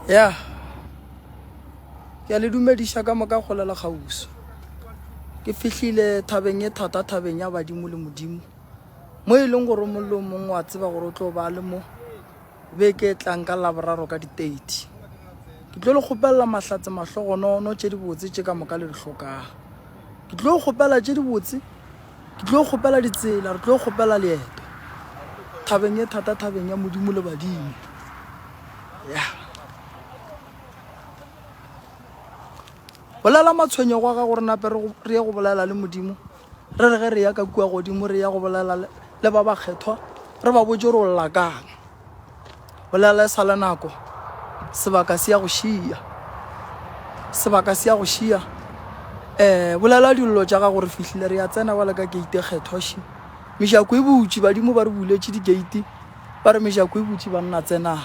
ya ke a le dumediša ka moka go lela kgauso ke fihlile thabeng e thata thabeng ya badimo le modimo mo e leng gore mollo mongwe wa tseba gore o tlo ba le mo be ke tlang ka laboraro ka di-thirty ke tlo le kgopelela mahlatse mahlogonono tše dibotse tše ka moka le di tlhokang ke tlo kgopela tše dibotse Ke tlo kgopela ditsela, re tlo kgopela leeto thabeng e thata, thabeng ya Modimo le badimo. Ya bolela matshwenyego a gago, re nape re ye go bolela le Modimo, re re ge re ya ka kua godimo, re ya go bolela le ba bakgethwa, re ba botse gore o lla kang. bolela e sa le nako sebaka se ya go šia sebaka se ya go šia um bolela dillo tša ga gore fihlile re ya tsena bjale ka gate kgethoši mešako e butši badimo ba re buletše digate ba re mešako e butši ba nna tsenang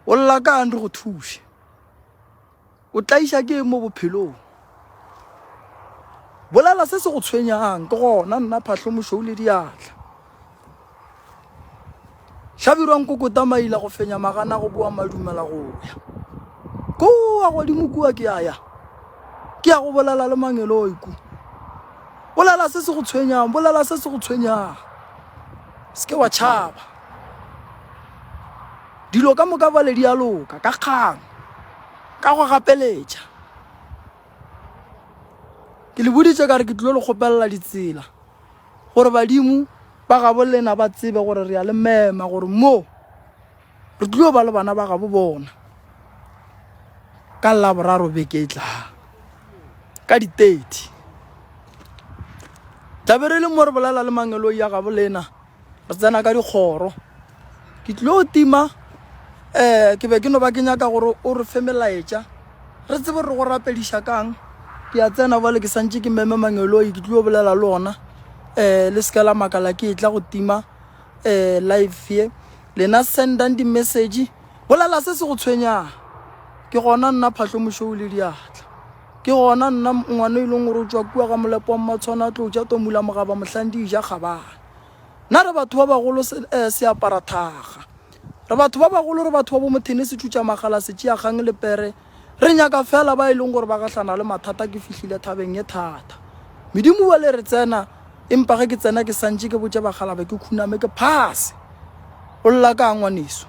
o lla ka andre go thuše o tlaiša ke mo bophelong bolela se se go tshwenyang ke gona nna phahlo mošou le diatla hlabirwang kokota maila go fenya magana go boa madumela go ya kua godimo kua ke ya ya ke ya go bolela le mangeloi ku bolela se se go tshwenyang bolela se se go tshwenyang se ke wa tšhaba Dilo ka moka bjale di a loka ka kgang, ka go gapeletša. Ke le boditše ka re ke tlilo le kgopelela ditsela gore badimo ba gabo lena ba tsebe gore re a le mema gore mo re tlilo ba le bana ba gabo bona ka laboraro beke e tlang ka di-thirty tlabe re le mo re bolela le mangeloi ya gabo lena re tsena ka dikgoro ke tlilo tima um ke be ke no ba ke nyaka gore o re fe melaetša re tsebe re go rapediša kang ke ya tsena bale ke santse ke meme mangeloi ke tlilo bolela le ona um le seke la makala ke e tla go tima um live ye lena sendang di-message bolela se se go tshwenyang ke gona nna phatlho mošou le diatla Ke gona nna ngwana e leng gore o tšwa kua ga molepo wa mmatshwana a tlo ja tomula mogaba mohlang di ja kgabana nna re batho ba bagolo eh, se apara thaga re batho ba bagolo re batho ba bo mothene se thutša magala se tšea kgang le pere re nyaka fela ba e leng gore ba gahlana le mathata ke fihlile thabeng ye thata medimo wa le re tsena empa ge ke tsena ke santše ke botše bagalabe ke khuname ke phase o lla ka ngwaneso